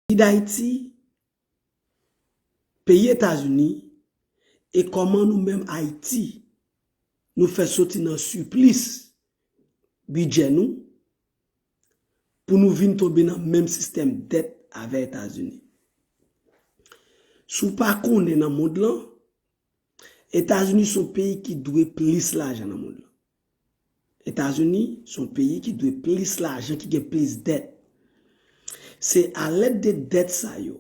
Peyi Dayiti, peyi Etazini, e kòman nou menm Ayiti nou fè soti nan siplis bidjè nou pou nou vin tonbe nan menm sistèm dèt avè Etazini. Si w pa konnen nan mond lan, Etazini son peyi ki dwe plis lajan nan mond lan. Etazini se yon peyi ki dwe plis lajan, ki gen plis dèt. Se a lèd de dèt sa yo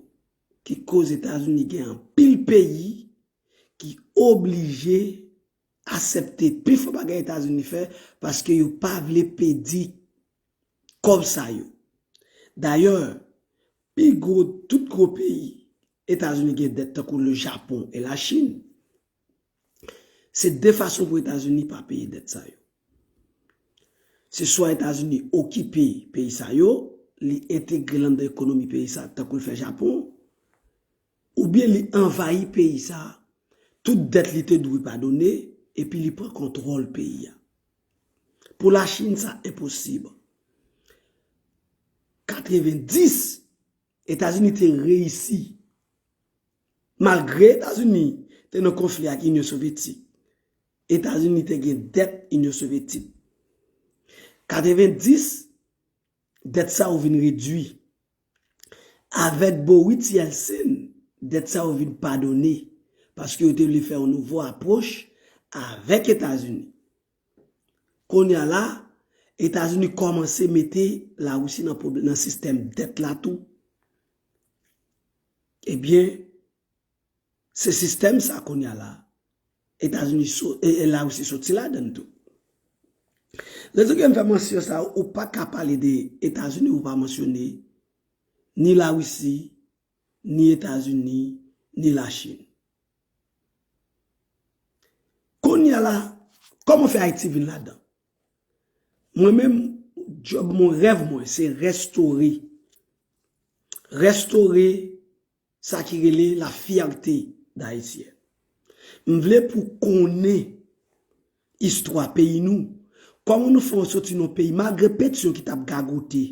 ki koz Etazini gen anpil peyi ki oblije asepte pifò bagay Etazini fè paske yo pa vle pedi kòb sa yo. Dayè, pi gwo tout gwo peyi Etazini gen dèt tankou le Japon e la Chin. Se de fason pou Etazini pa peye dèt sa yo. Se swa Etazini okipe peyi sa yo, li entegre l anndan ekonomi peyi sa a tankou l fè Japon, oubyen li anvayi peyi sa a, tout dèt li te dwe padone, epi li pran kontwòl peyi a. Pou Lachin sa enposib. 90. Etazini te reyisi. Malgre Etazini te nan konfli ak Inyon Sovyetik, Etazini te gen dèt Inyon Sovyetik. 90, dèt sa yo vin redui. Avèk Bowitz Yeltsin, dèt sa yo vin padone, paske yo te vle fè yon nouvo apwoch avèk Etazini. Konya la, Etazini kòmanse mete La Risi nan pwoblèm nan sistèm dèt la tou. Ebyen, se sistèm sa konya la, Etazini so, e La Risi soti ladann tou. Rezon ki fè m fè mansyon sa, ou pa ka pale de Etazini ou pa mansyone ni La Risi, ni Etazini, ni Lachin. Kounye a la, kòman fè Ayiti vin ladan? Mwen menm, djòb mwen, rèv mwen, se restore. Restore sa ki rele la fyète dayisyen. M vle pou konnen istwa peyi nou, kòman nou fè soti nan peyi, malgre petion ki t ap gagote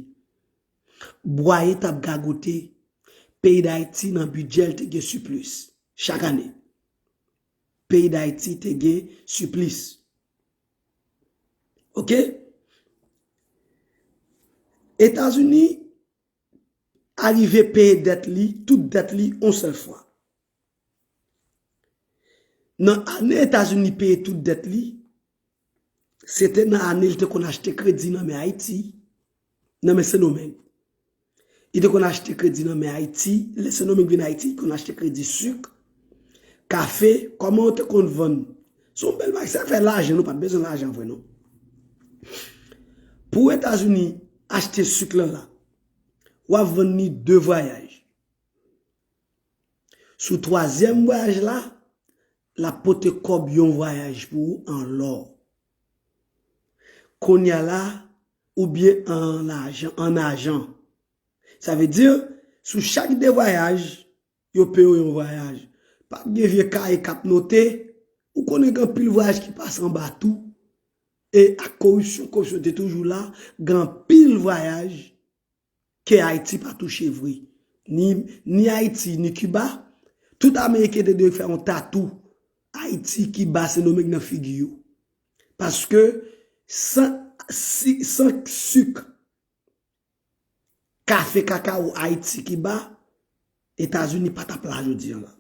Bwaye tap gagote peyi dayiti nan bidjè l te gen siplis chak ane peyi dayiti te gen siplis ok etazini arive peye dèt li tout dèt li yon sèl fwa. Nan ane Etazini peye tout dèt li, se te nan ane li te konn achte kredi nan men Ayiti, nan men Sendomeng. Li te konn achte kredi nan men Ayiti, lè Sendomeng vin Ayiti, li konn achte kredi suk, kafe, kòman yo te konn vann. Se yon bèl bagay, se afè lajan, nou pa t bezwen lajan vre non. Pou Etazini achte suk lan la, w ap vann li de vwayaj. Sou twazyèm vwayaj la, l ap pote kòb yon vwayaj pou ou an lò. Kounye a la, oubyen an ajan. Sa vle di, sou chak de vwayaj, yo peye w yon vwayaj. Pa gen vye kaye k ap note, ou konnen gen anpil vwayaj ki pase anba tou, e ak koripsyon, koripsyon te toujou la, gen anpil vwayaj ke Hayti pa touche vre, ni Hayti ni Cuba, tout Ameriken te dwe fè yon tatou Hayti, Cuba, Sendomeng nan figi yo. Paske san suk, kafe, kakao Hayti, Cuba, Etazini pa tap la jodi an la.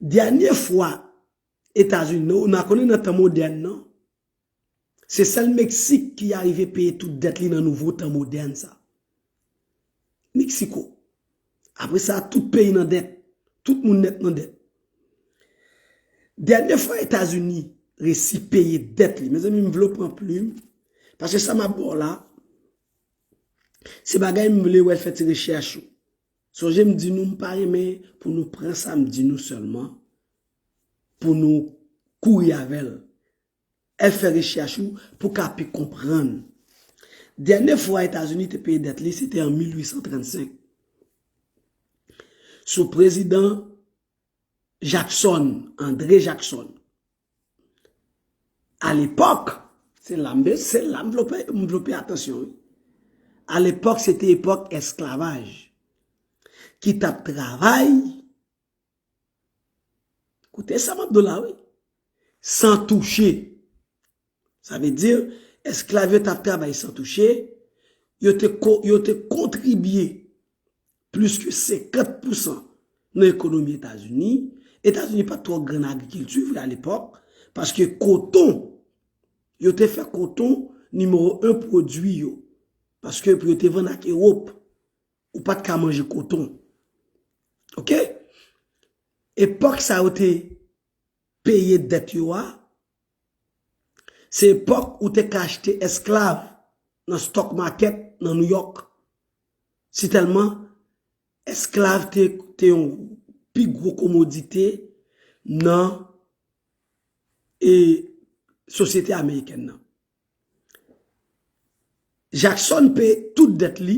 Dènye fwa Etazini, nou konnen nan tan modèn nan, Se sèl Meksik ki arive peye tout dèt li nan nouvo tan modèn sa. Meksiko. Apre sa, tout peyi nan dèt. Tout moun nèt nan dèt. Dènye fwa Etazini resi peye dèt li. Mezanmi m vle w pran plim. Paske sa m ap ba w la, se bagay m vle wè fè ti rechèch ou. Sonje m di nou m pa renmen pou nou pran sa m di nou sèlman, pou nou kouri avè l. Ep fè rechèch ou pou ka pi konprann. Dènye fwa Etazini te peye dèt li se te an 1835 sou prezidan Jackson, André Jackson. A lepòk, se la m de, se la m vle m vle w peye atansyon wi. A lepòk se te epòk esklavaj ki t ap travay. Koute sa map do la wi. San touche. Sa vle di, esklav yo tap travay san touche, yo te kontribye plis ke 50 pousan nan ekonomi Etazini. Etazini pat twò gran nan agrikilti vre a lepòk, paske koton, yo te fè koton nimewo 1 pwodui yo, paske pou yo te vann ak Ewop. Ou pat ka manje koton. Ok. Epok sa yo te peye det yo a. Se epok ou te ka achte esklav nan stock market nan New York. Si telman esklav te yon pi gro komodite nan e sosyete Ameriken nan. Jackson peye tout dèt li,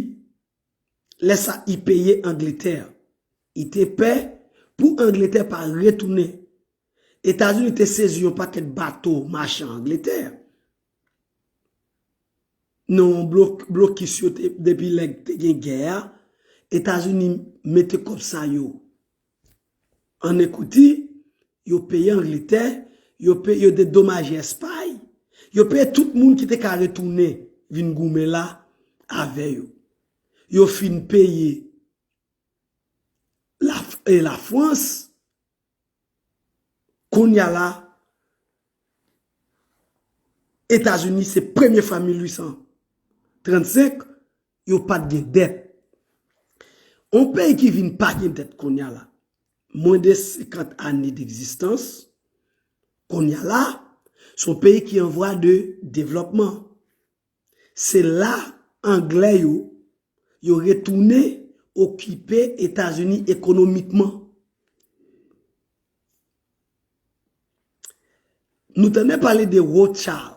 lè sa i peye Angletè. I te pè pou Angletè pa retounen. Etazini te sezi yon pakèt bato machan Angletè. Non blokis yo te depi lè te gen gè a, Etazini mete kòb sa yo. An Ekouti, yo peye Angletè, yo peye, yo dedomaje Espay, yo peye tout moun ki te ka retounen vin goumen la avè yo. Yo fin peye Lafrans, kounya la, Etazini se premye fwa 1835, yo pat gen dèt. On peyi ki vin pa gen dèt konnya la, mwen de 50 ane degzistans, konnya la, se on peyi ki an vwa de devlòpman. Se la anglè yo, yo retounen okipe Etazini ekonomikman. Nou tande pale de Rothschild,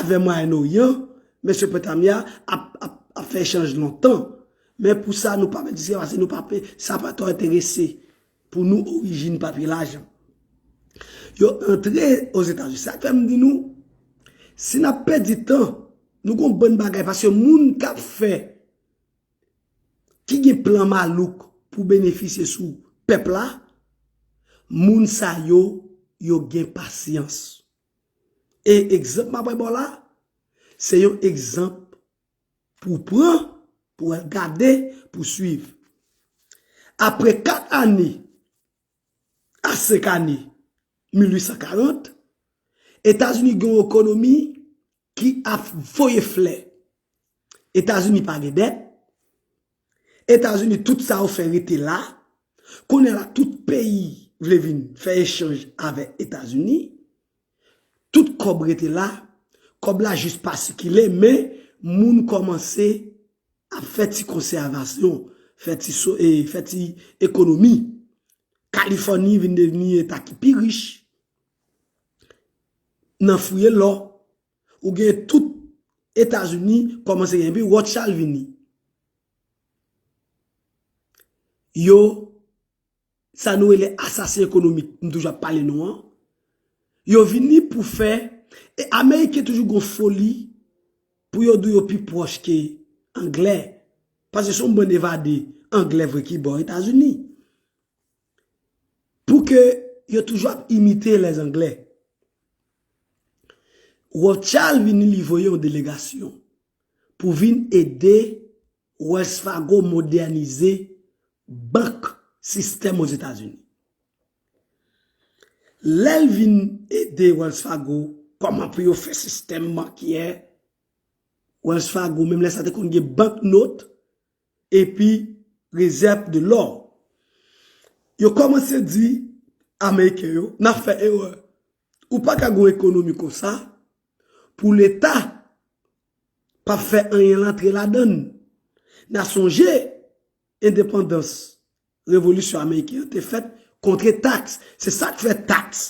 Avè Mwayen Oryan, Mesopotamya, ap, ap, ap fè echanj lontan. Men pou sa nou pa mèt sa, nou pa pe, sa pa twò enterese pou nou orijin papye lajan. Yo antre Ozetazini. Sa fè m di nou, si n ap pèdi tan, nou gon bann bagay paske moun k ap fè, ki gen plan malouk pou benefisye sou pèp la, moun sa yo, yo gen pasyans. E egzanp m ap bay ba w la a, se yon egzanp pou w pran, pou w al gade, pou w suiv. Apre kat ane, a senk ane, 1840, Etazini gen yon ekonomi ki ap voye flè etazini pa gen dèt etazini tout sa yo fè rete la kounye la tout peyi vle vin fè echanj avè etazini tout kòb rete la kòb la jis pa sikile men moun kòmanse ap fè ti konsèvasyon fè ti so e fè ti ekonomi kalifòni vin devni eta ki pi rich nan fouye lò, ou gen tout Etazini kòmanse gen, epi Rothschild vini. Yo, sa nou rele asasen ekonomik, m toujou ap pale nou an, yo vini pou fè, e Ameriken toujou gon foli pou yo di w yo pi pwòch ke Anglè, pase son bann evade, Anglè vre ki ba w Etazini. Pou ke yo toujou ap imite les anglais. Rothschild vini li voye yon delegasyon pou vin ede Wells Fargo modernize bank sistèm Ozetazini. Lè l vin ede Wells Fargo kòman pou yo fè sistèm bankyè, Wells Fargo menm lè sa te konn gen bank note, epi rezèv de lò. Yo kòmanse di ameriken yo, n ap fè erè, ou pa ka gen yon ekonomi konsa pou leta p ap fè anyen l antre ladan l. N a sonje endepandans revolisyon ameriken an te fèt kontre taks. Se sa k fè taks.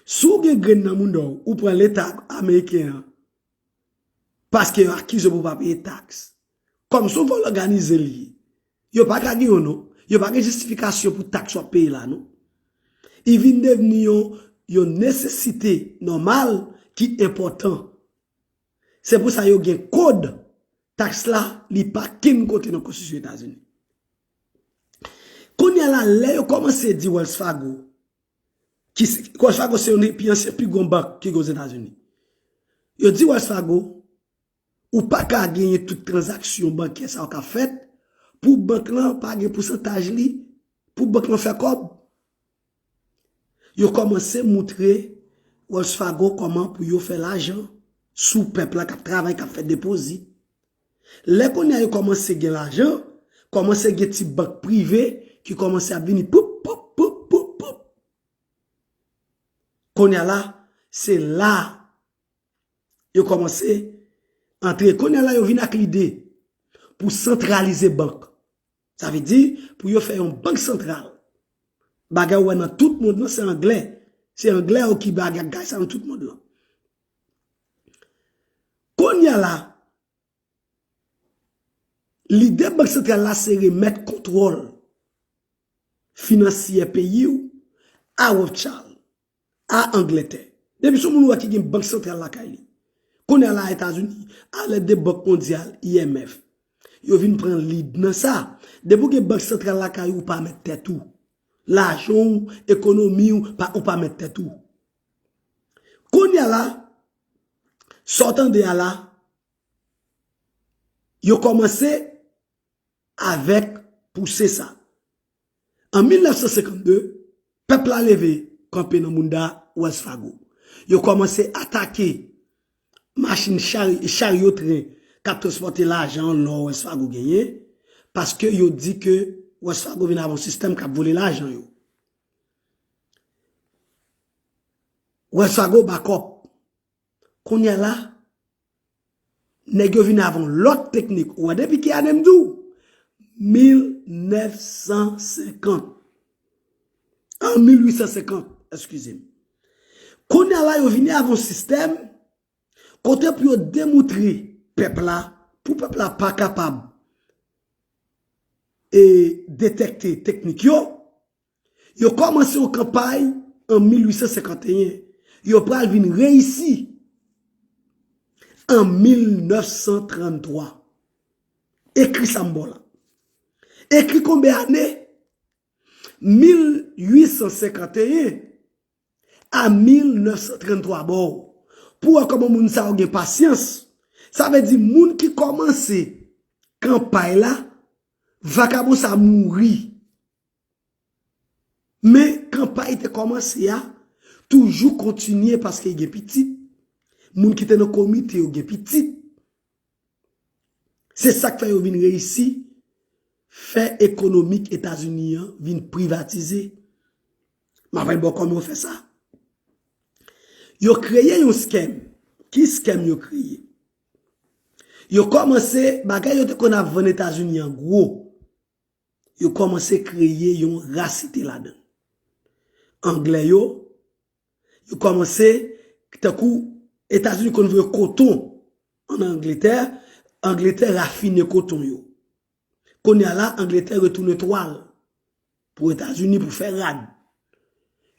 Si w gen grenn nan mouda w, ou pran leta ameriken an. Paske yo akize w pou pa peye taks. Kòm son vòl òganize li ye. Yo pa ka gen yon non. Yo pa gen jistifikasyon pou taks w ap peye la non. I vin devni yon nesesite nòmal ki enpòtan. Se pou sa yo gen kod taks la li pa kenn kote nan konstitisyon Etazini. Kounye a la lè yo kòmanse di Wells Fargo. Wells Fargo se youn nan pi ansyen, pi gwo bank ki gen Ozetazini. Yo di Wells Fargo, ou pa ka genyen tout tranzaksyon bankè sa yo ka fèt pou bank lan pa gen pousantaj li, pou bank lan fè kòb. Yo kòmanse moutre Wells Fargo kòman pou yo fè lajan sou pèp la k ap travay, k ap fè depozit. Lè kounye a yo kòmanse gen lajan, kòmanse gen ti bank prive ki kòmanse ap vini poup, poup, poup, poup, poup. Kounye a la, se la yo kòmanse antre. Kounye a la yo vin ak lide pou santralize bank. Sa vle di pou yo fè yon bank santral. Bagay ou wè nan tout mond lan se anglè. Se anglè yo ki bagay sa nan tout mond lan. Konya la, lide bank santral la se remèt kontwòl finansyè peyi ou a Rothschild. A Angletè. Depi son moun wè ki gen bank santral lakay li. Kounye a la a Etazini, a lèd de Bank Mondyal, IMF, yo vin pran lead nan sa. Depi ou gen bank santral lakay ou, ou pa mèt tèt ou. Lajan ou, ekonomi ou, ou pa mèt tèt ou. Kounye a la, sa w tande a la, yo kòmanse avèk pouse sa. An 1952, pèp la leve kanpe nan bounda Wells Fargo. Yo kòmanse atake machin charyo tren k ap transpòte lajan lò Wells Fargo genyen, paske yo di ke Wells Fargo vin avè yon sistèm k ap vole lajan yo. Wells Fargo bakòp Kounya la nèg yo vin avè yon lòt teknik ou wè depi ki ane m di w 1950 an 1850 eskize m kounya la yo vini avè yon sistèm kote pou yo demoutre pèp la pou pèp la pa kapab e detèkte teknik yo Yo kòmanse yon kanpay an 1851, yo pral vin reyisi an 1933. Ekri sa m ba w la. Ekri konbe ane 1851 a 1933 ba w pou w wè kòman moun sa yo gen pasyans. Sa vle di moun ki kòmanse kanpay la, vakabon sa a mouri. Men kanpay te kòmanse a toujou kontinye paske gen pitit, moun ki te nan komite yo gen pitit. Se sa k fè yo vin reyisi fè ekonomik Etazini an vin privatize. M ap bay bò kòman yo fè sa. Yo kreye yon skèm. Ki skèm yo kreye? Yo kòmanse bagay yo te konn ap vann Etazini an gwo. Yo kòmanse kreye yon rasite ladan. Anglè yo, yo kòmanse, tankou Etazini konn voye koton an Angletè, Angletè rafine koton yo. Kounye a la, Angletè retounen twal pou Etazini pou fè rad.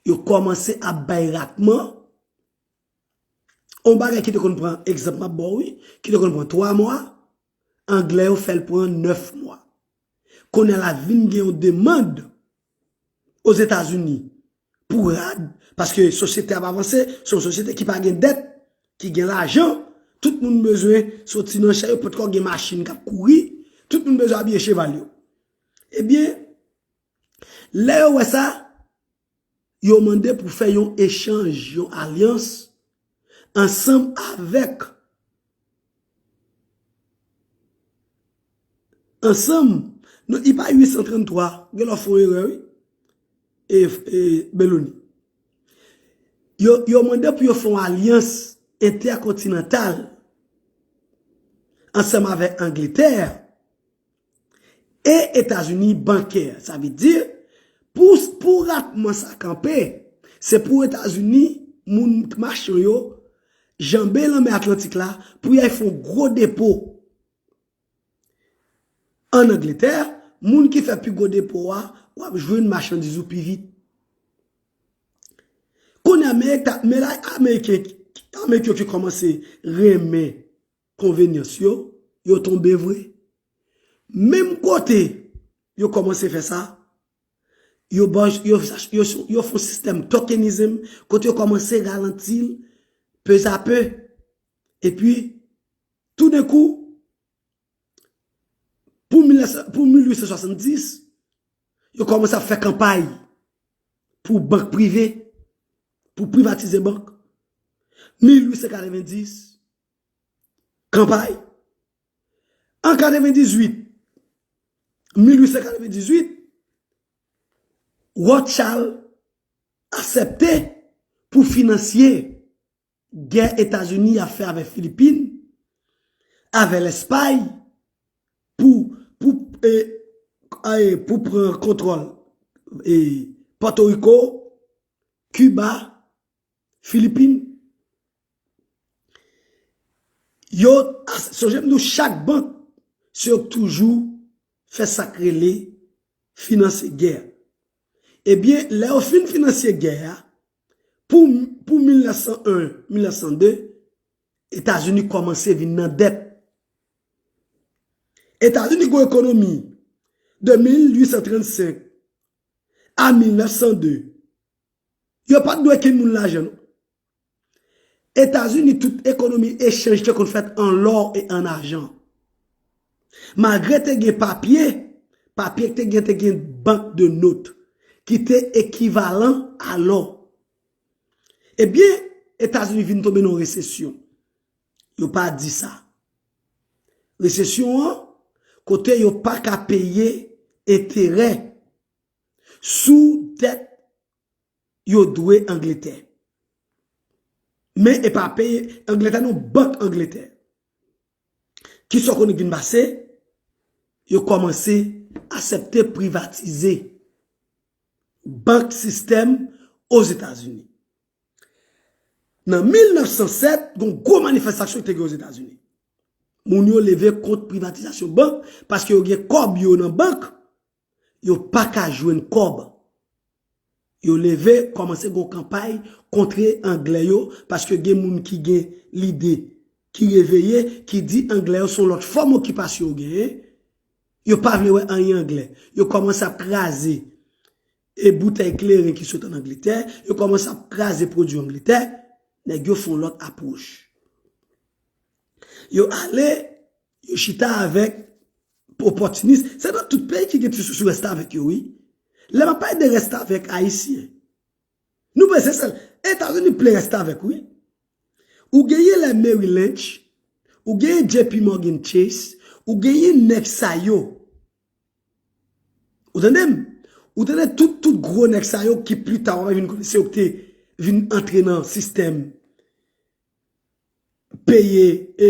Yo kòmanse ap bay ratman, yon bagay ki te konn pran, egzanp m ap ba w wi, ki te konn pran 3 mwa, Anglè yo fè l pran 9 mwa. Kounye a la vin gen yon demand Ozetazini pou rad paske sosyete a ap avanse, se yon sosyete ki pa gen dèt, ki gen lajan, tout moun bezwen soti nan chè yo potko gen machin k ap kouri, tout moun bezwen abiye cheval yo. Ebyen, lè yo wè sa, yo mande pou fè yon echanj, yon alyans ansanm avèk ansanm nan i pa 833 gen lè w fon erè wi e Beloni yo mande pou yo fon alyans entèkontinantal ansanm avèk Angletè E Etazini bankè. Sa vle di, pou ratman sa kanpe, se pou Etazini, moun machan yo, janbe lanmè Atlantik la pou y al fè yon gwo depo ann Angletè. Moun ki fè pi gwo depo a, w ap jwenn machandiz ou pi vit. Kounye a, men la Ameriken yo ki kòmanse renmen. Konvenyans yo, yo tonbe vre. Menm kote yo kòmanse fè sa, yo fon sistèm tokenizm kote yo kòmanse ralanti l pezape. Epi, toudenkou, pou 1870, yo kòmanse ap fè kanpay pou bank prive, pou privatize bank. 1890, Kanpay an 98, 1898, Rothschild asèpte pou finansye gè Etazini ap fè avè Filipin, avè Lèspay pou pran kontwòl Pòtoriko, Kiba, Filipin. Yo, sonje m di w chak bank, se yo k toujou fè sa k rele finanse gè. Ebyen, lè yo fin finanse gè a, pou 1901, 1902, Etazini kòmanse vin nan dèt. Etazini gwo ekonomi de 1835 a 1902. Yo pat dwe kin moun lajan non. Etazini tout ekonomi echanj te konn fèt an lò e an ajan. Malgre te gen papye, papye k te gen te gen bank de not ki te ekivalan a lò. E byen Etazini vin tonbe nan resesyon. Yo pa di sa. Resesyon an kote yo pa ka peye enterè. sou dèt yo dwe Angletè. Men e pa peye Angletè non, bank Angletè. Ki sa w konnen ki vin pase? Yo kòmanse asepte privatize bank sistèm Ozetazini. Nan 1907, gen yon gwo manifestasyon ki te gen Ozetazini. Moun yo leve kont privatizasyon bank paske yo gen kòb yo nan bank, yo paka jwenn kòb. Yo leve kòmanse gon kanpay kontre anglè yo paske gen moun ki gen lide ki reveye ki di anglè yo son lòt fòm okipasyon yo genyen. Yo pa vle wè anyen anglè. Yo kòmanse ap kraze e boutèy kleren ki sot an Angletè, yo kòmanse ap kraze pwodui Angletè, nèg yo fon lòt apwoch. Yo ale. Yo chita avek opòtinis. Se nan tout peyi ki gen ti sousou restavèk yo wi. Lè map pale de restavèk ayisyen. Nou panse sèl etazini plen restavèk wi. Ou genyen lè Mary Lynch, ou genyen JP Morgan Chase, ou genyen nèg sa yo. Ou tande m? Ou tande tout tout gwo nèg sa yo ki pli ta wap vin konnen se yo ki te vin antre nan sistèm. peye e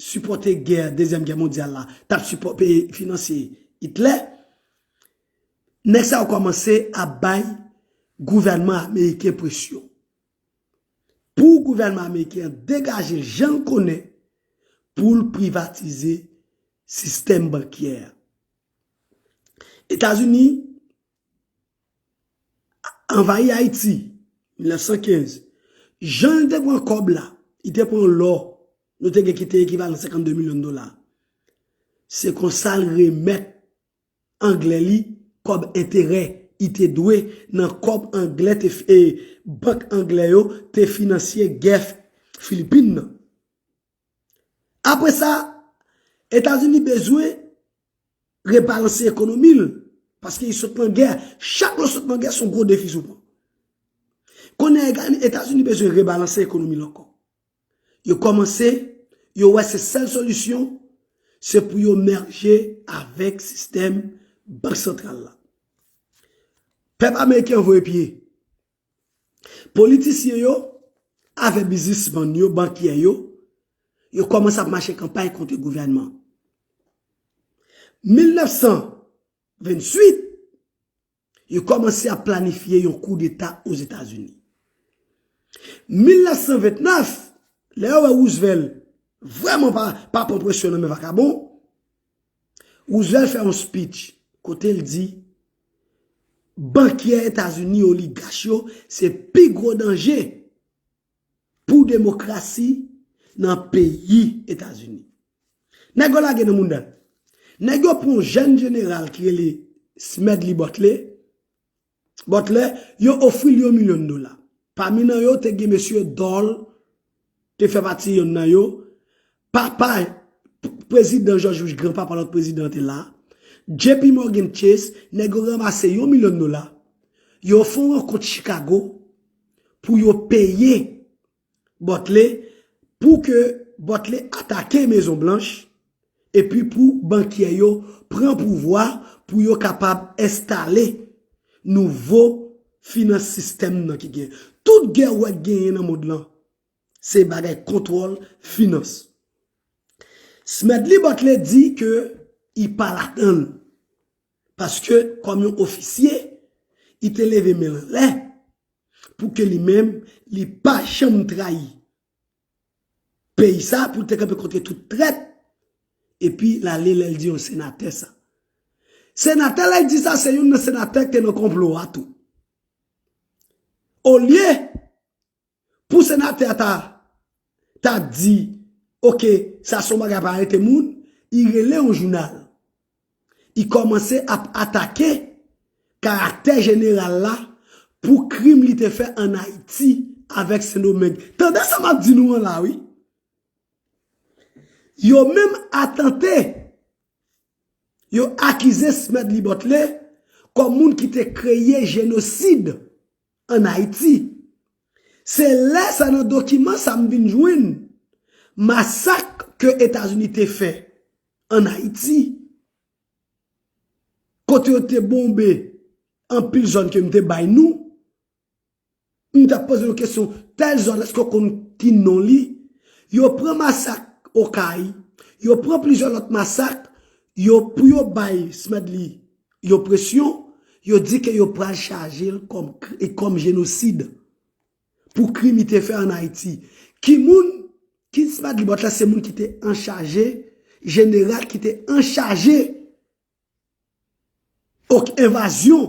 sipòte gè dezyèm gè mondyal la tap sipò peye finanse itlè nèg sa yo kòmanse ap bay gouvènman ameriken presyon pou gouvènman ameriken an degaje l jan l konnen pou l privatize sistèm bankyè etazini. Anvayi Ayiti 1915, jan li te pran kòb la, li te pran lò nou te gen ki te ekivalan 52 milyon dola. Se konsa l remèt anglè li kòb enterè li te dwe nan kòb anglè te bank anglè yo te finansye gè Filipin nan. Apre sa, Etazini bezwen rebalanse ekonomi l, paske li sot nan gè, chak lè w sot nan gè son gwo defis ou pran. Kounye a Etazini bezwen rebalanse ekonomi l ankò. Yo kòmanse, yo wè se sèl solisyon, se pou yo merje avèk sistèm bank santral la. Pèp ameriken voye pye. Politisyen yo avè bizisman yo, bankyè yo, yo kòmanse ap mache kanpay kontre gouvènman. 1928, yo kòmanse ap planifye yon koudeta Ozetazini. 1929, lè yo wè Roosevelt vrèman pa pran presyon nan men vakabon, Roosevelt fè yon speech kote l di bankyè Etazini, oligach yo se pi gwo danje pou demokrasi nan peyi Etazini. Nèg yo lage nan mounda l. Nèg yo pran yon jèn jeneral ki rele Smedley Butler. Butler, yo ofri l yon milyon dola. Pami nan yo te gen mesye Dole te fè pati yonn nan yo, papa Prezidan George Bush, granpapa lòt prezidan an te la, JP Morgan Chase, nèg yo ranmase yon milyon dola, yo fè yon rankont Chicago pou yo peye Bòtle pou ke Bòtle atake Mezon Blanch epi pou bankyè yo pran pouvwa pou yo kapab enstale nouvo finans sistèm nan ki gen. Tout gè ou wè k genyen nan mond lan, se bagay kontwòl finans. Smedley Bòtle di ke li pa ladann. Paske kòm yon ofisye, li te leve men l anlè pou ke li menm li pa janm trayi peyi sa a, pou li te kanpe kontre tout trèt, epi l ale lè l di yon senatè sa. Senatè lè l di sa se youn nan senatè ki te nan konplo a tou. Olye. Pou senatè a ta ta di ok sa son bagay pa arete moun i rele yon jounal i komanse ap atake karaktè jeneral la pou krim li te fè an ayiti avèk sendomeng tande sa map di nou an la wi yo menm atante yo akize smedley butler kòm moun ki te kreye jenosid. an Ayiti. Se lè sa nan dokiman sa m vin jwenn masak ke Etazini te fè an Ayiti, kote yo te bonbe anpil zòn ke m te bay nou, m ta poze nou kesyon, tèl zòn èske w konn ki non li? Yo pran masak Okay, yo pran plizyè lòt masak, yo pou yo bay Smedley Yo presyon, yo di ke yo pral chaje l kòm jenosid pou krim li te fè an Ayiti. Ki moun? Kids Pagelibot la se moun ki te anchaje, jeneral ki te anchaje ok envazyon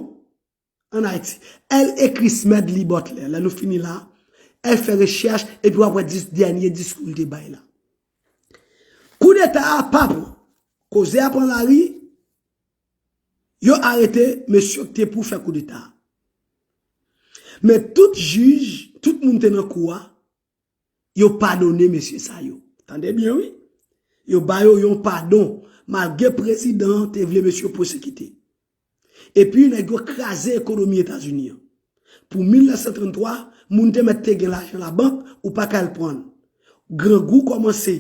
an Ayiti. El ekri Smedlibot lè. Lè nou fini la, el fè rechèch epi wap wè dènye diskou li te bay la. Koudeta a pa pran. Koze a pran lari. Yo arete mesye k te pou fè koudeta a. Men tout jij, tout moun te nan kou a, yo padone mesye sa yo. Tande byen wi. Yo ba yo yon padon malgre prezidan an te vle mesye pwesekite. Epi nèg yo kraze ekonomi Etazini an. Pou 1933, moun te mèt te gen lajan labank, ou pa ka al pran. Grangou kòmanse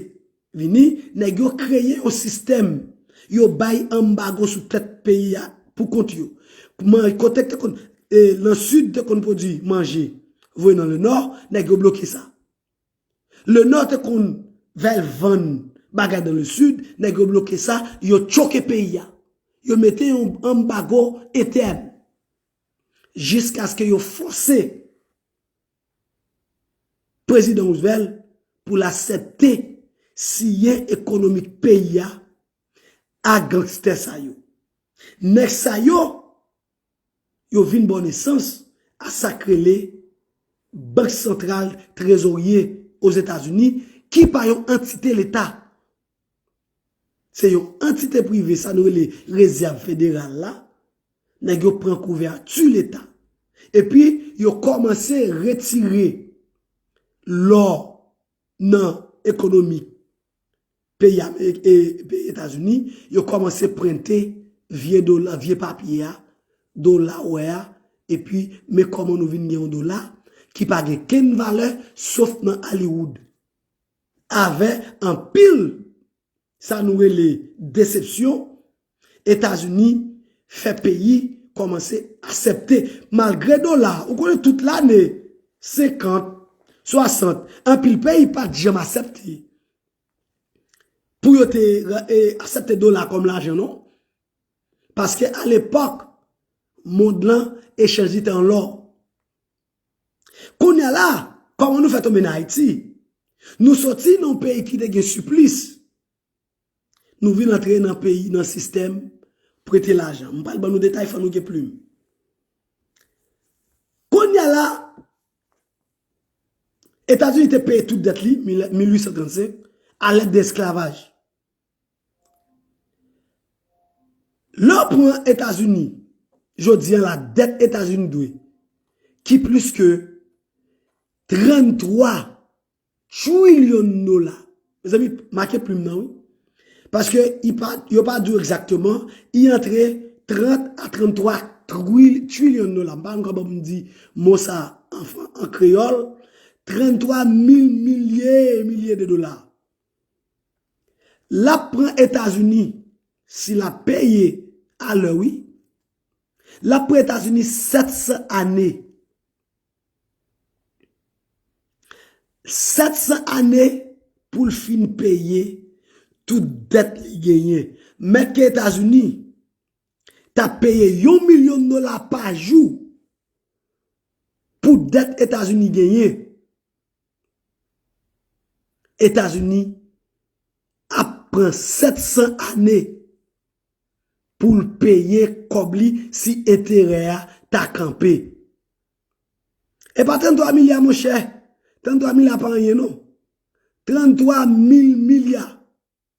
Vini, nèg yo kreye yon sistèm, yo bay anbago sou tèt peyi a pou kont yo. Kote te konn, nan Sid te konn pwodwi manje, voye nan Lenò, nèg yo bloke sa. Lenò te konn vel vann bagay nan le Sid, nèg yo bloke sa, yo tchoke peyi a. Yo mete yon anbago entèn. Jiskaske yo fòse. Prezidan Roosevelt pou l asèpte siyen ekonomik peyi a a gangstè sa yo. Nèg sa yo, yo vin bò nesans a sa k rele Bank Santral Trezorye Ozetazini ki pa yon antite leta. Se yon antite prive sa nou rele rezèv federal la, nèg yo pran kouvèti leta. Epi yo kòmanse retire lò nan ekonomi peyi Etazini, yo kòmanse prente vye dola, vye papye a, dola ou wè a, epi men kòman nou vin gen yon dola ki pa gen kenn valè sof nan Hollywood. Avè anpil sa nou rele desepsyon, Etazini fè peyi kòmanse asèpte malgre dola ou konnen tout lane 50, 60 anpil peyi pat janm asèpte pou yo te asèpte dola kòm lajan non paske alepòk mond lan echanj li te an lò. Kounye a la, kòman nou fè tonbe nan Ayiti? Nou soti nan yon peyi ki te gen siplis, nou vin antre nan peyi, nan sistèm prete lajan. M pral ban nou detay, fò nou gen plim. Kounye a la, Etazini te peye tout dèt li, 1835, a lèt de esklavaj. Lè w pran Etazini jodi an la dèt Etazini dwe ki plis ke 33 trilyon dola. Mezanmi make plim nan wi. Paske yo pa di w egzakteman i antre 30 a 33 trilyon dola. M pa anko bon pou m di mo sa an kreyòl. 33 mil milye e milye de dola. Lap pran etazini si la peye a lè wi. Lap pran etazini 700 ane. 700 ane poul fin peye tout dèt li genyen. Mèt ke etazini ta peye yon milyon dola pa jou pou dèt etazini genyen. Etazini ap pran 700 ane pou l peye kòb li si enterè a ta kanpe. E pa 33 milya monchè, 33 milya pa anyen non. 33 mil milya.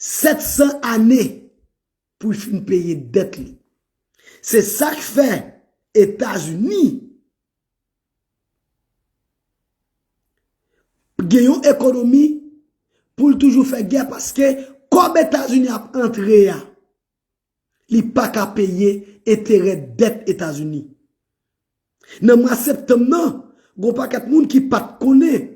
700 ane pou l fin peye dèt li. Se sa k fè Etazini gen yon ekonomi pou l toujou fè gè paske kòb Etazini ap antre a, li pa ka peye enterè dèt Etazini. Nan mwa septanm nan, gen yon pakèt moun ki pa t konnen.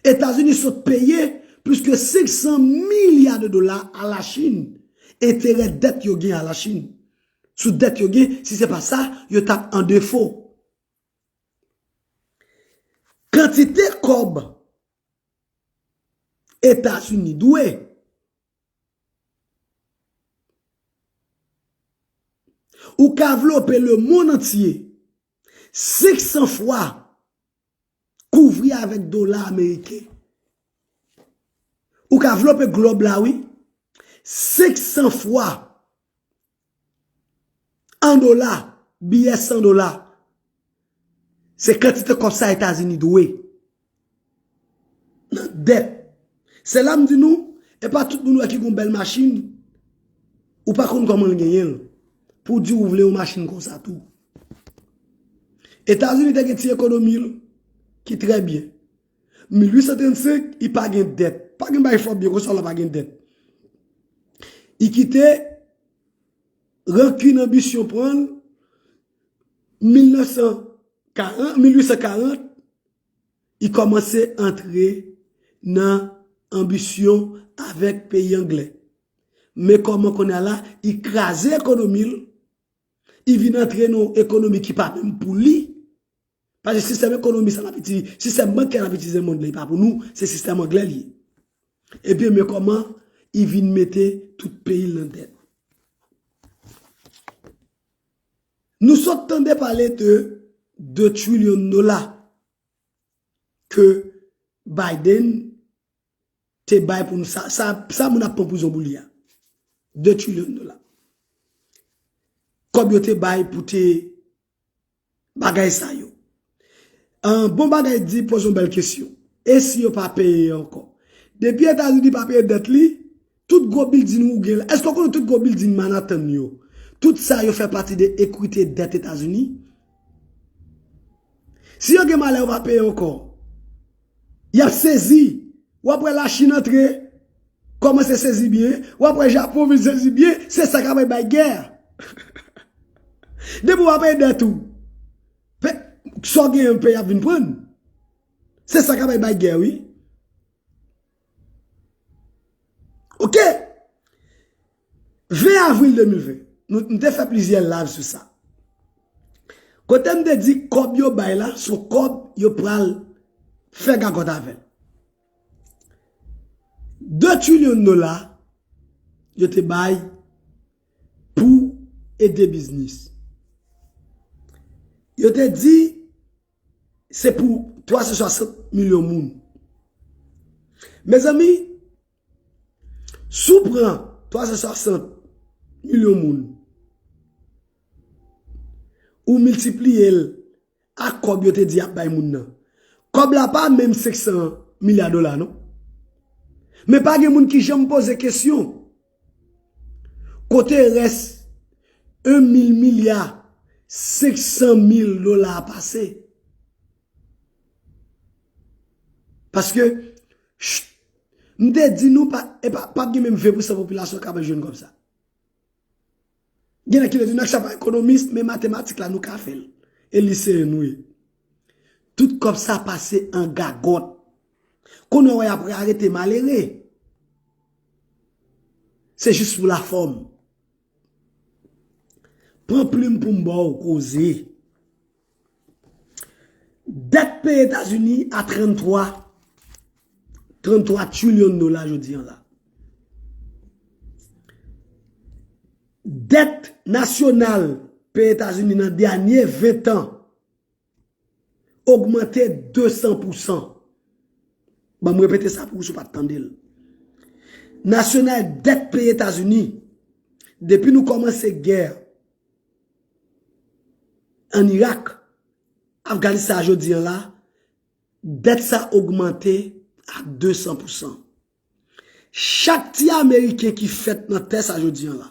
Etazini sot peye plis ke 500 milya de dola a la Chin, enterè dèt yo gen a la Chin, sou dèt yo gen, si se pa sa, yo tap an defo. Kantite kòb Etazini dwe, ou ka vlope le monn antye. 500 fwa kouvri avèk dola ameriken. Ou ka vlope glob la wi. 500 fwa an dola, biyè 100 dola. Se kantite kòb sa Etazini dwe. Nan dèt. Se la m di nou, e pa tout moun wè ki gon bèl machin, ou pa konn kòman l genyen l, pou w di ou vle yon machin konsa tou. Etazini te gen ti ekonomi l, ki trè byen. 1835, i pa gen dèt. Pa gen bagay fò byen konsa lè w pa gen dèt. I kite rankin anbisyon pran l. 1840, li kòmanse antre nan anbisyon avèk peyi angle. Men kòman kounye a la, li kraze ekonomi l, li vin antre nan yon ekonomi ki pa menm pou li. Paske sistèm ekonomi sa nap itilize, sistèm bankè nap itilize nan mond lan e pa pou nou, se sistèm anglè li ye. Ebyen men kòman li vin mete tout peyi l nan dèt. Nou sot tande pale de 2 trilyon dola ke Biden te bay pou nou sa, sa moun ap pran pou zonbou li a. 2 trilyon dola. Kòb yo te bay pou te Bagay sa yo. Ahh bon bagay di poze yon bèl kesyon. E si yo pa peye ankò? Depi etazini pa peye dèt li, tout gwo bilding ou gen la, èske w konnen tout gwo bilding Manhattan yo, tout sa yo fè pati de ekwite dèt etazini? Si yo gen malè yo pa peye ankò. Yap sezi. Wap wè la chine antre komanse sezi byen. Wap wè japon vin sezi byen. Se sa kap bay gè. Depi wap ede et ou. Sa w gen yon peyi ap vin pran. Se sa kap bay gè wi. Ok, 20 avril 2020, nou te fè plizyè live sou sa. Kote m te di kòb yo bay la, sou kòb yo pral fè gagòt avè. 2 trilyon dola yo te bay pou ede biznis. Yo te di... Se pou 360 milyon moun. Mezanmi, sou pran 360 milyon moun, ou miltipliye l a kòb yo te di ap bay moun nan. Kòb la pa menm 500 milya dola non. Men pa gen moun ki janm poze kesyon. Kote rès 1 mil milya 500 mil dola a pase? Paske, cht, m te di nou pa gen menm 20% popilasyon kap jwenn kòb sa. Gen nèg ki vle di nèg sa pa ekonomis men matematik la nou ka fèl e liseyen nou ye. Tout kòb sa pase an gagòt. Konnen wè yap arete malere. Se jis pou la fòm. Pran plim poum baw koze. Dèt peyi Etazini a 33 trilyon dola jodi an la. Dèt nasyonal peyi Etazini nan dènye 20 tan ogmante 200 pousan. Banm repete sa pou ou si ou pat tande l. Nasyonal dèt peyi Etazini depi nou kòmanse gè An Irak, Afganistan a jodi an la, dèt sa ogmante a 200 pousan. Chak ti ameriken ki fèt nan tè sa jodi an la,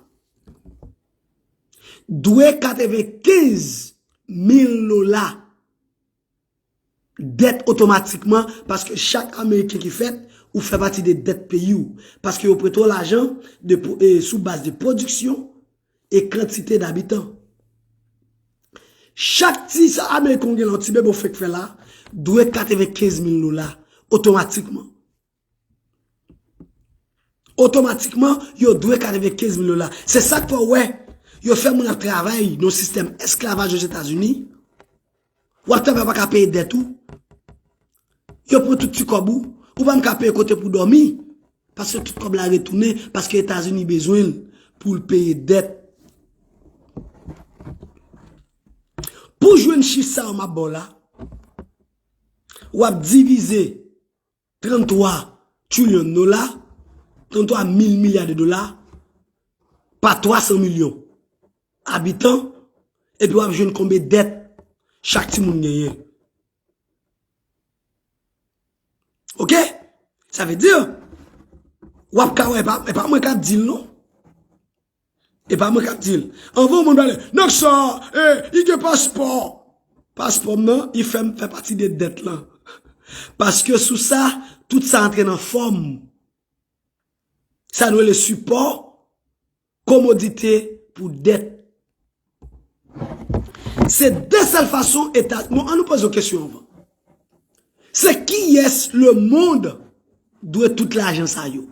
dwe 95 mil dola. dèt otomatikman paske chak ameriken ki fèt ou fè pati de dèt peyi ou paske yo prete w lajan sou baz de pwodiksyon e kantite dabitan. Chak ti sa ameriken ou gen la, yon ti bebe ou fèk fè la, dwe 95 mil dola otomatikman. Otomatikman, yo dwe 95 mil dola. Se sa k fè w wè, yo fè moun ap travay nan yon sistèm esklavaj Ozetazini, w ap travay ou pa ka peye dèt ou, yo pran tout ti kòb ou, ou pa menm ka peye kote pou dòmi, paske tout kòb la retounen, paske Etazini bezwen l pou l peye dèt. Pou jwenn chif sa yo m ap ba w la, w ap divize. 33 trillion dola, 33 mil milya de dola, pa 300 milyon abitan, epi wap jwenn konbe dèt chak ti moun genyen. Ok? Sa ve di, wap ka wè, e pa mwen kap di l non. E pa mwen kap di l. Anvan moun pale, nèg sa, e, li gen paspò. Paspò m nan, li fè m fè pati de dèt lan. Paske sou sa, tout sa antre nan fòm. Sa nou rele sipò, komodite pou dèt. Se de sèl fason eta, non an nou poze yon kesyon anvan. Se kiyès le mond dwe tout lajan sa yo?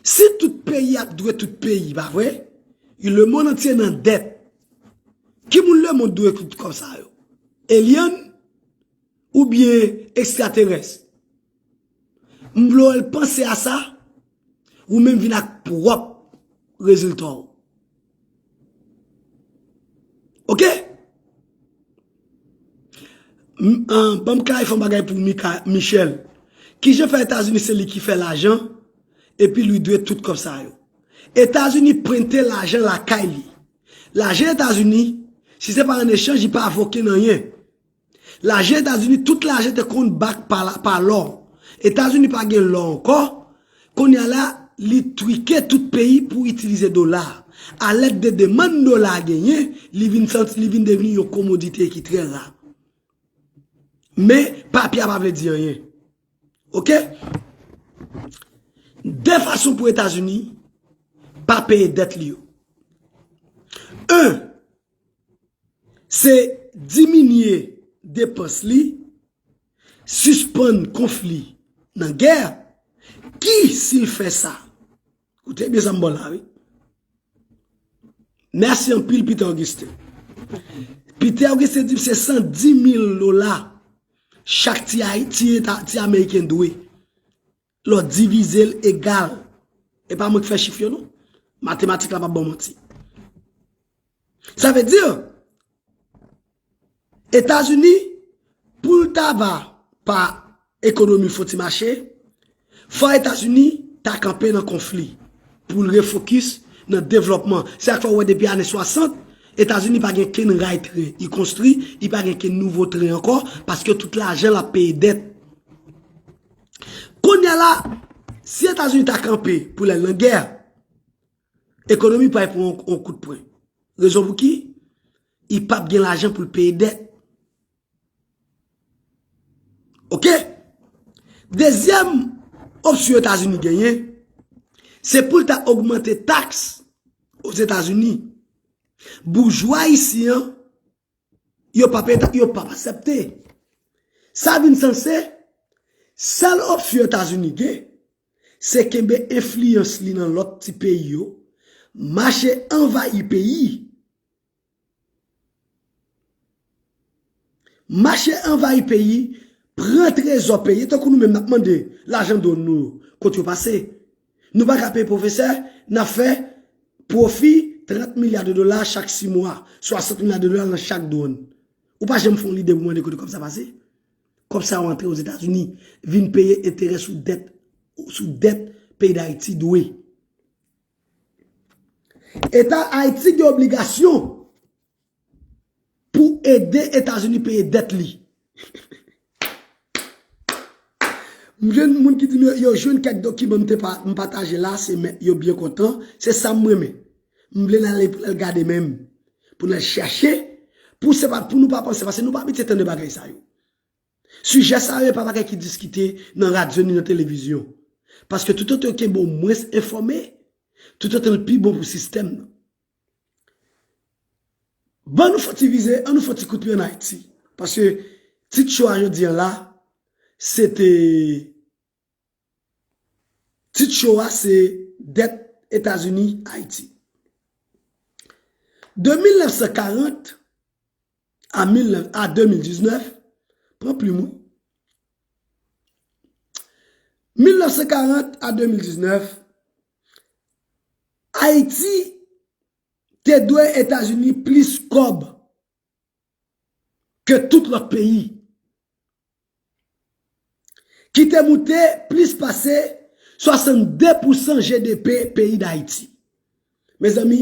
Si tout peyi ap dwe tout peyi, pa vre? Le mond antye nan dèt. Ki moun le mond dwe tout kòb sa yo? Elyann? Ou byen ekstraterès? M vle wèl panse a sa, ou menm vin ak pwòp rezilta w. Ok Banm klarife yon bagay pou Michel Kijan fè etazini se li ki fè lajan Epi li dwe tout kòb sa yo Etazini prente lajan lakay li Lajan etazini si se pa an echanj li pa voke nan yen Lajan etazini tout lajan te konn back pa lò etazini pa gen lò ankò konnya la li trike tout peyi pou itilize dola a lèd de demann dola a genyen li vin santi li vin devni yon komodite ki trè ra men papye a pa vle di anyen ok de fason pou etazini pa peye dèt li yo 1. Se diminye depans li, sispann konfli nan gè, ki si l fè sa. Koute byen sa m ba w la wi. Mèsi anpil Peter Augustin. Peter Augustin di m se 110 mil dola chak ti Ameriken dwe Lò divize l egal. E pa mwen ki fè chif yo non. Matematik la pa banm manti. Sa vle di, Etazini pou l ta va pa ekonomi fon ti mache, fò Etazini ta kanpe nan konfli pou l refokis nan devlòpman. Se sak fè ou wè depi ane 60, Etazini pa gen kenn ray tren li konstwi, li pa gen kenn nouvo tren ankò, paske tout lajan l ap peye dèt. Konya la, si Etazini ta kanpe pou lèl nan gè, ekonomi pral pran yon kout pwen. Rezon pou ki? Li pap gen lajan pou l peye dèt. Ok? Dezyèm opsyon Etazini genyen, se pou l ta ogmante taks Ozetazini. Boujwa ayisyen an, Yo pap eta, yo pap asepte. Sa vin sans se, sèl opsyon Etazini gen, se kenbe enfliyans li nan lòt ti peyi yo, mache anvayi peyi, mache anvayi peyi, pran trezò peyi, tankou nou menm nap mande lajan done nou yo, kot yo pase? Nou pa ka peye pwofesè, n ap fè pwofi 30 milya de dola chak si mwa, 60 milya de dola nan chak dwòn. Ou pa janm fè yon lide pou mande kote kòb sa pase? Kòb sa yo antre Ozetazini vin peye enterè sou dèt sou dèt peyi Dayiti dwe. Eta Ayiti gen obligasyon. Pou ede Etazini peye dèt li. M gen moun ki di m yo jwenn kèk dokiman m pataje la se men yo byen kontan se sa m renmen m vle nan ale pou nan gade menm pou nan chache pou se pa pou nou pa panse pase nou pa abitye tande bagay sa yo sijè sa yo e pa bagay ki diskite nan radyo ni nan televizyon paske toutotan yo kenbe w mwens enfòme toutotan l pi bon pou sistèm nan. Ban nou fon ti vize, an nou fon ti kout pye an Ayiti. Paske tit cho a jodi an la, se te, tit cho a se dèt Etazini Ayiti. De 1940 a 2019, pran plim ou, 1940 a 2019, Ayiti te dwe Etazini plis kòb ke tout lòt peyi, ki te moute plis pase 62 pousan GDP peyi Dayiti. Mezanmi,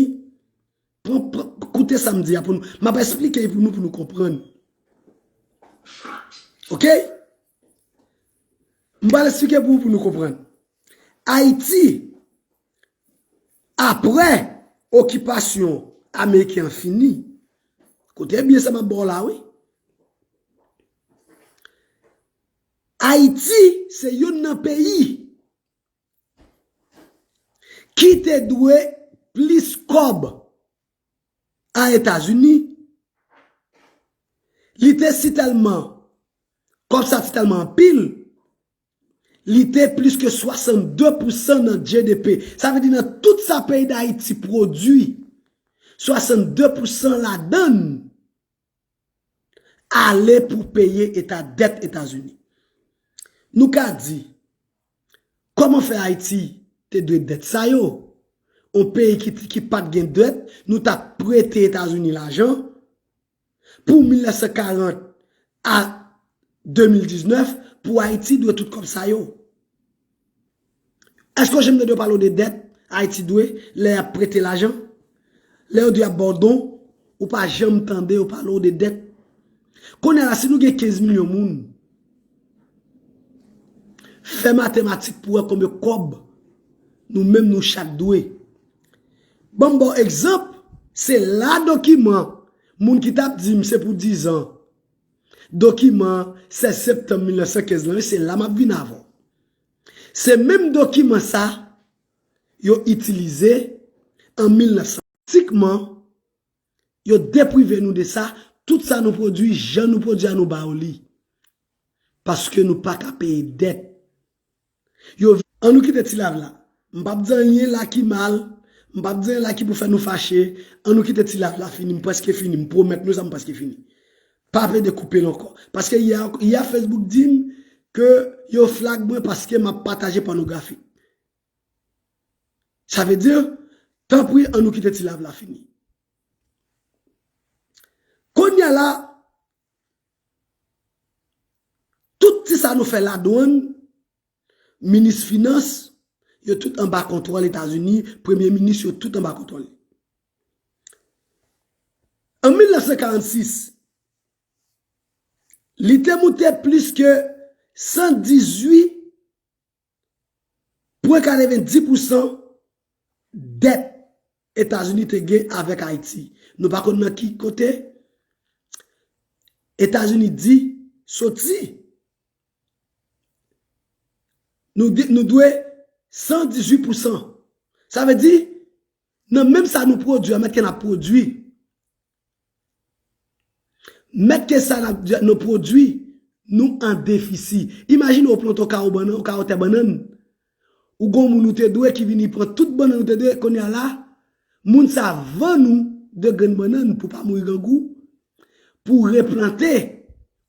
Pran, pran, koute sa m di a pou nou. M ap esplike l pou nou, pou nou konprann. Ok? M pral esplike pou ou pou nou konprann. Ayiti, apre okipasyon Ameriken an fini, koute byen sa m ap ba w la wi, Ayiti se youn nan peyi, Ki te dwe plis kòb a Etazini, li te si tèlman, kòb sa ti tèlman anpil, li te plis ke 62 pousan nan GDP. Sa vle di nan tout sa peyi Dayiti pwodui, 62 pousan ladann ale pou peye eta dèt Etazini. Nou ka di, kòman fè Ayiti te dwe dèt sa yo? On peyi ki pat gen dèt, nou ta prete Etazini lajan pou 1940 a 2019 pou Ayiti dwe tout kòb sa yo. Eske OGM nan dwe pale w de dèt Ayiti dwe lè y ap prete lajan? Lè yo di y ap ba w don, ou pa janm tande yo pale w de dèt? Kounye a la, si nou gen 15 milyon moun, fè matematik pou w wè konbyen kòb nou menm nou chak dwe. Ban m ba w egzanp, se la dokiman moun ki t ap di m se pou dizan, dokiman 16 septanm 1915 lan, se la m ap vin avè w. Se menm dokiman sa yo itilize an 1900. Tikman, yo deprive nou de sa, tout sa nou pwodui, jan nou pwodui a nou ba yo li. Paske nou pa ka peye dèt. Yo. An nou kite ti lav la. M pap di anyen la ki mal, m pap di anyen la ki pou fè nou fache, an nou kite ti lav la fini, m prèske fini, m pwomèt nou sa m prèske fini. Pa plede koupel ankò. Paske yè Facebook dim ke yo flag mwen paske map pataje pònografi. Sa vle di, tanpri an nou kite ti live la fini. Kounya la, tout ti sa nou fè ladwann, minis finans, yo tout anba kontwòl Etazini, premye minis yo tout anba kontwòl li. An 1946, li te moute plis ke 118,90 pousan dèt Etazini te gen avèk Ayiti. Nou pa konn nan ki kote Etazini di soti. Nou dwe 118 pousan. Sa vle di, Nan menm sa nou pwodwi a, mèt ke nap pwodwi. Mèt ke sa nou pwodwi, nou an defisi. Imajine ou plante yon kawo bannan, yon kawo tè bannann. Ou gon moun ou te dwe ki vini pran tout bannann ou te dwe, kounye a la, moun sa vann ou 2 grenn bannann pou pa mouri grangou, pou replante.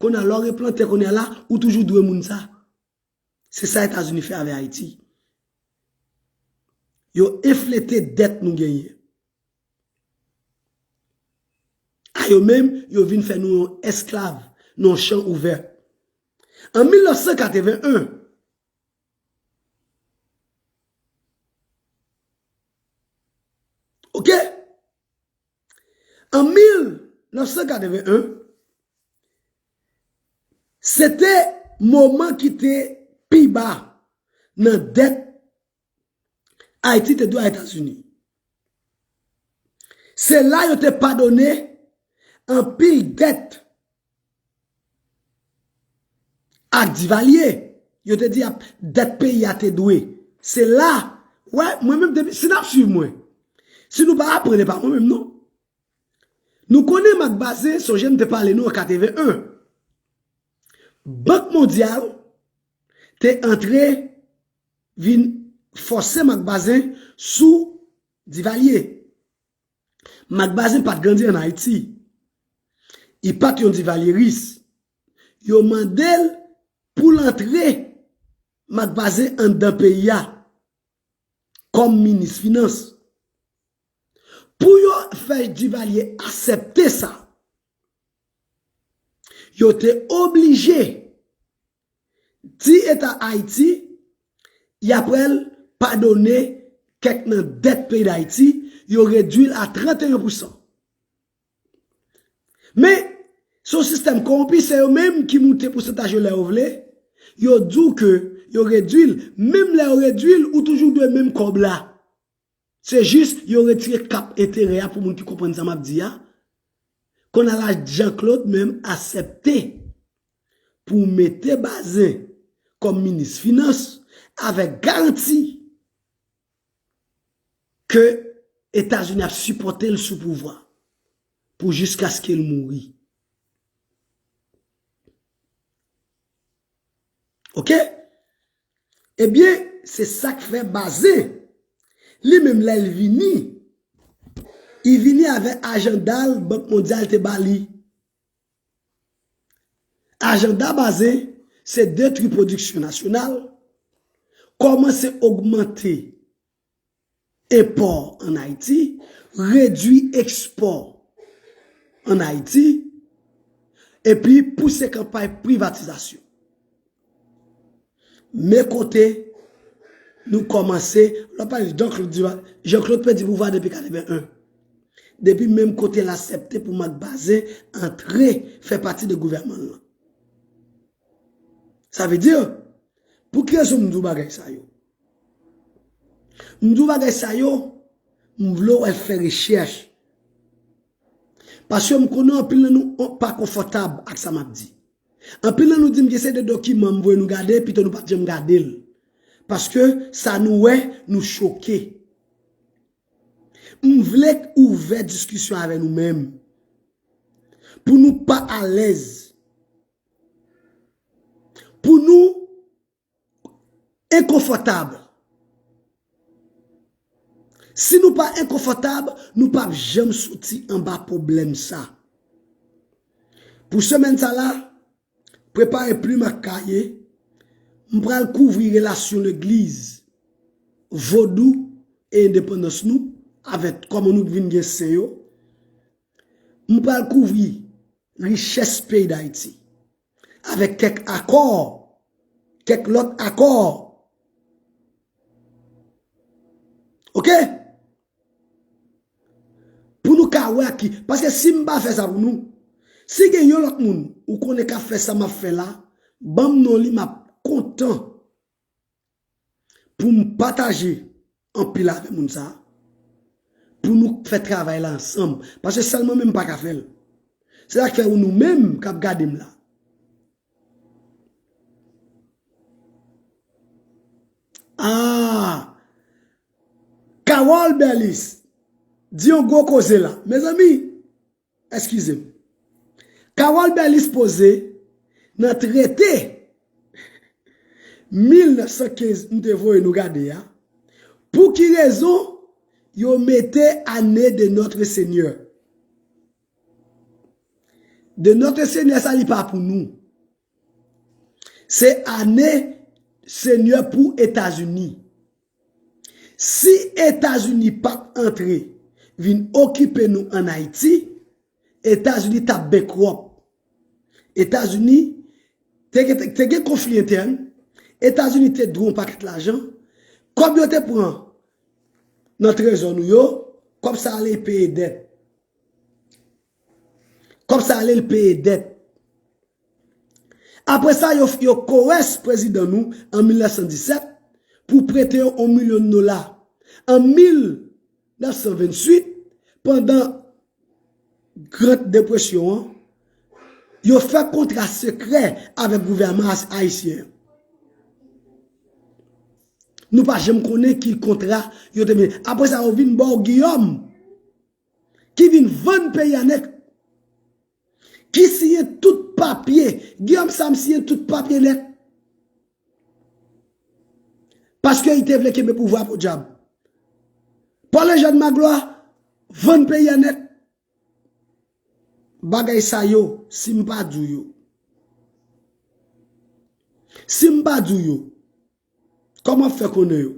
Kounye a la, lè w replante kounye a la, ou toujou dwe moun sa. Se sa Etazini fè avè Ayiti. Yo enflete dèt nou genyen. A yo menm, yo vin fè nou yon esklav nan yon chan ouvè. An 1981, ok? An 1981, se te moman ki te pi ba nan dèt Ayiti te dwe a Etazini. Se la yo te padone anpil dèt Ak divalye yo te di ap dèt peyi a te dwe se la wè mwen menm depi si nap swiv mwen si nou pa aprann epa mwen menm non nou konnen mak bazen sonje m te pale nou an 81 bank mondyal te antre vin fòse mak bazen sou divalye. Marc Bazin pat grandi an Ayiti. Li pat yon divalyeris. Yo mande l pou l antre Marc Bazin anndan peyi a kòm minis finans. Pou yo fè Divalye asèpte sa, yo te oblije Di eta Ayiti y aprèl padone kèk nan dèt peyi Dayiti yo redwi l a 31 pou san. Men, se yon sistèm kowonpi se yo menm ki moute pousantaj yo lè yo vle, yo di w ke yo redwi l, menm lè yo redwi l ou toujou dwe menm kòb la. Se jis yo retire kap enterè a pou moun ki konprann sa map di a, konn ala Jean Claude menm asèpte pou mete Bazin kòm minis finans avèk garanti ke Etazini ap sipòte l sou pouvwa pou jiskaske l mouri. Ok Ebyen se sak fè Bazin li menm lè li vini li vini avè ajanda bank mondyal te ba li. Ajanda Bazin se detwi pwodiksyon nasyonal, kòmanse ogmante Enpò an Ayiti, redwi ekspò an Ayiti, epi pouse kanpay privatizasyon. Men kote nou kòmanse, lò pa jis Jean-Claude di wa, Jean-Claude pèdi pouvwa depi 81. Depi menm kote l asèpte pou Marc Bazin antre fè pati de gouvèman l lan. Sa vle di, pou ki rezon m di w bagay sa yo? M di w bagay sa yo, m vle w al fè rechèch. Paske m konnen anpil nan nou pa konfòtab ak sa m ap di. Anpil nan nou di m gen seri de dokiman m voye nou gade pito nou pa t janm gade l. Paske sa nou wè, nou choke. M vle k ouvè diskisyon avè nou menm. Pou nou pa alèz. Pou nou Enkonfòtab. Si nou pa enkonfòtab, nou pa p janm soti anba pwoblèm sa. Pou semèn sa la, prepare plim ak kaye, m pral kouvri relasyon legliz, vodou e endepandans nou avèk kòman nou vin gen sen yo. M pral kouvri richès peyi Dayiti. Avèk kèk akò, kèk lòt akò. Ok? Pou nou ka wè ak ki. Paske si m pa fè sa pou nou, si gen yon lòt moun ou konnen k ap fè sa m ap fè la, ban m non li m ap kontan. Pou m pataje anpil avè moun sa a. Pou nou k fè travay la ansanm. Paske sèl mwen menm m pa ka fè l. Se sa k fè ou nou menm k ap gade m la. Aah! Carole Berlis di yon gwo koze la. Mezanmi! Eskize m. Carole Berlis poze nan trete 1915 m te voye nou gade a, pou ki rezon yo mete ane de notre senyè. De notre senyè sa li pa pou nou. Se ane Senyè pou Etazini. Si Etazini pat antre vin okipe nou an Ayiti, Etazini tap bankrop. Etazini te gen konfli entèn, Etazini te dwe yon pakèt lajan, kòb yo te pran nan trezò nou yo, kòb sa ale peye dèt. Kòb sa ale li peye dèt. Apre sa yo yo kowès prezidan nou an 1917 pou prete yo on milyon dola. An 1928 pandan grand depresyon an yo fè kontra sekrè avèk gouvèman ayisyen. Nou pa janm konnen ki kontra yo te menen. Apre sa yo vin ba w Guillaume. ki vin vann peyi a nèt, ki siyen tout papye, Guillaume Sam siyen tout papye nèt, paske li te vle kenbe pouvwa a podyab. Paul Eugène Magloire vann peyi a nèt. Bagay sa yo, si m pa di w yo, si m pa di w yo, Kòman wap fè konnen yo?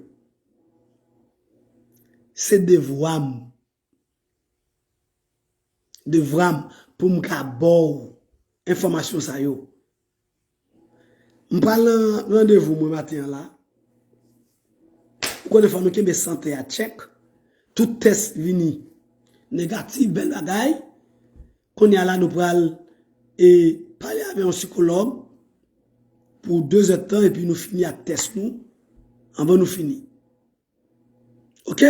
Se devwa m. Devwa m pou m ka ba w enfòmasyon sa yo. M pral nan randevou mwen maten an la. Ou konnen fò nou kenbe sante a tchèk. Tout tès vini negatif, bèl bagay. Kounye a la nou pral e pale avè yon sikològ pou 2 zèd tan epi nou fini ak tès nou anvan nou fini. Ok?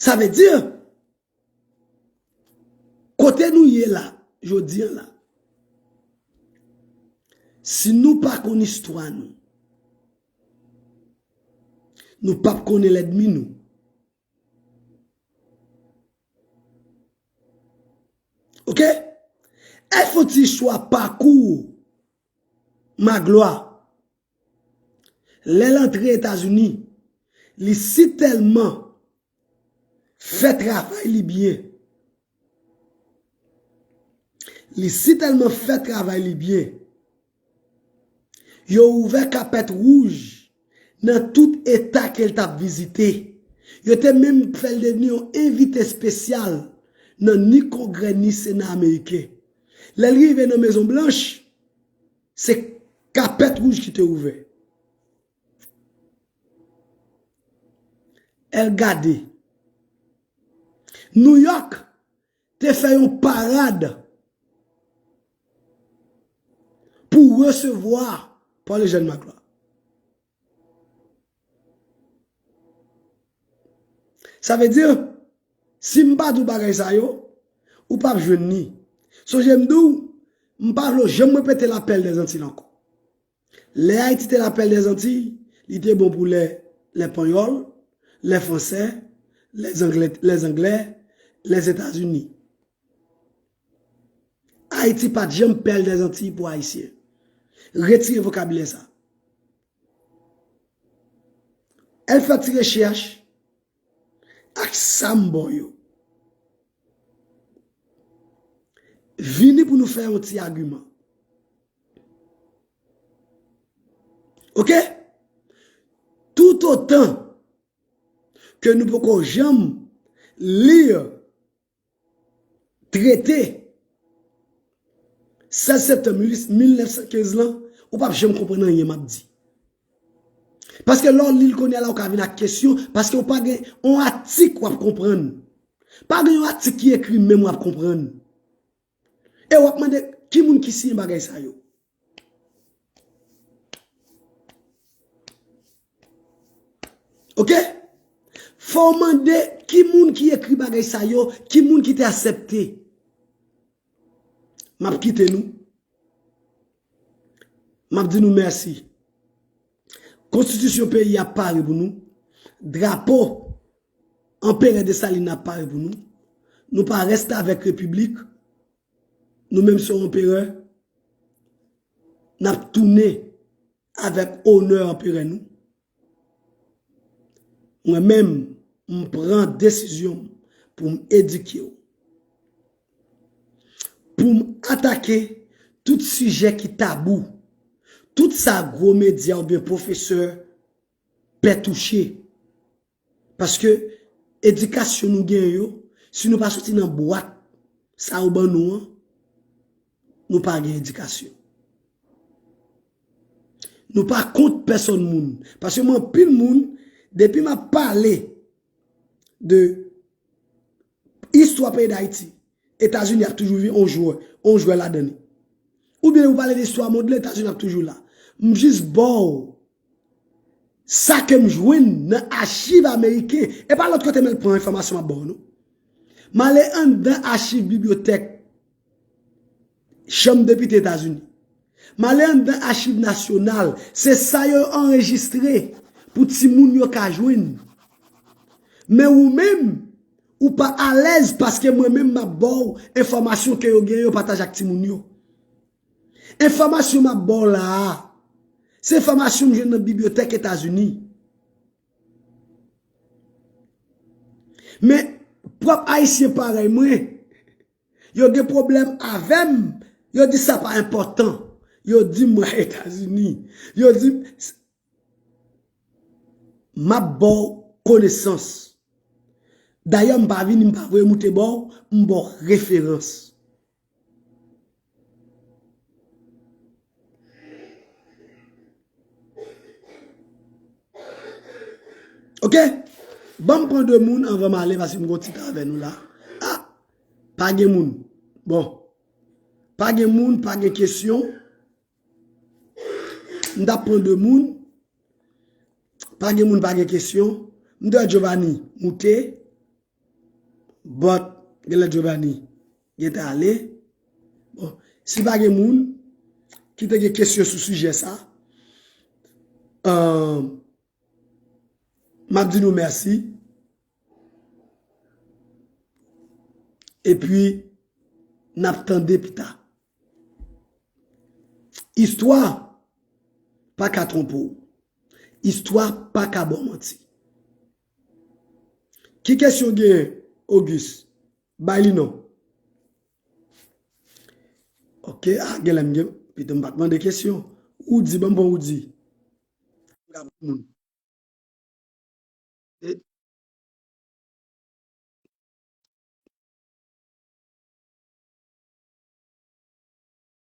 Sa vle di, kote nou ye la, jodi an la, si nou pa konn istwa nou, nou pap konnen lèdmi nou. Ok Al fè yon ti istwa pakou Magloire lèl antre etazini li si tèlman fè travay li byen li si tèlman fè travay li byen Yo ouvè kapèt wouj nan tout eta ke l t ap vizite. Yo te menm fè l devni yon envite espesyal nan ni Kongrè ni Sena ameriken. Lè l rive nan Mezon Blanch, se kapèt wouj ki te ouvè. Èl gade. Nouyòk! te fè yon parad pou resevwa Paul Eugène Magloire. Sa vle di, si m pa di w bagay sa yo, ou pa p jwenn ni. Sonje m di w, m pa vle w janm repete Lapèl dèzantil ankò. Lè Ayiti te lapèl dè Zantiy, li te bon pou lè lè panyòl, lè fransè, lè zanglè, lè zanglè, lè Zetazini. Ayiti pat janm pèl dè Zantiy pou Ayisyen. Retire vokabilè sa. Al fè ti rechèch. ak sam bon yo. Vini pou nou fè yon ti agiman. Ok? Tout otan ke nou poko janm lir Trete 16 septanm 1915 lan, ou pap janm konprann anyen map di. Paske lè w li l kounye a la ou ka vin ak kesyon, paske ou pa gen yon atik wap konprann. Pa gen yon atik ki ekri menm wap konprann. E wap mande ki moun ki siyen bagay sa yo. Ok? Fò w mande ki moun ki ekri bagay sa yo, ki moun ki te asepte. Map kite nou. M ap di nou mèsi. Konstitisyon peyi a pare pou nou. Drapo Anperè Desalin nan pare pou nou. Nou pa restavèk repiblik. Nou menm se Anperè. N ap tounen avèk onè Anperè nou. Mwen menm, m pran desizyon pou m edike w, pou m atake tout sijè ki tabou, tout sa gwo medya oubyen pwofesè pè touche, Paske edikasyon nou genyen yo, si nou pa soti nan bwat sa yo ban nou an, nou pa gen edikasyon. Nou pa kont pèsòn moun. Paske mwen anpil moun, depi m ap pale de istwa peyi Dayiti, Etazini ap toujou vin on jwè, on jwè ladan li. Ou byen ou pale de istwa mond lan, Etazini ap toujou la. M jis ba w Sa ke m jwenn nan achiv ameriken, e pa lòt kote mwen pran enfòmasyon m ap ba w non. M ale anndan achiv bibliyotèk chanm depite Etazini. M ale anndan achiv nasyonal, se sa yo anrejistre pou timoun yo ka jwenn. Men wou menm, ou pa alèz paske mwen menm m ap ba w enfòmasyon ke yo gen yo pataje ak timoun yo. Enfòmasyon m ap ba w la a, se enfòmasyon m jwenn nan bibliyotèk Etazini. Men, pwòp Ayisyen parèy mwen, yo gen pwoblèm avè m, yo di sa pa enpòtan. Yo di m mwen Etazini. Yo di m, m ap ba w konesans. Dayè, m pa vini, m pa voye moute ba w, m ba w referans. Ok, banm pran 2 moun anvan m ale paske m gon ti tan avè nou la. Ah, pa gen moun. Bon, pa gen moun, pa gen kesyon. M ta pran 2 moun. Pa gen moun, pa gen kesyon. M ta Jovani, moute. But genlè Jovany gentan ale. Bon, si pa gen moun ki te gen kesyon sou sijè sa, m ap di nou mèsi. E pi, n ap tande pita. Istwa pa ka twonpe w. Istwa pa ka ba w manti. Ki kesyon w genyen Auguste? Bay li non. Ok, ah genlè m gen, pito m pa t mande kesyon. Roody, ban m pran Roody.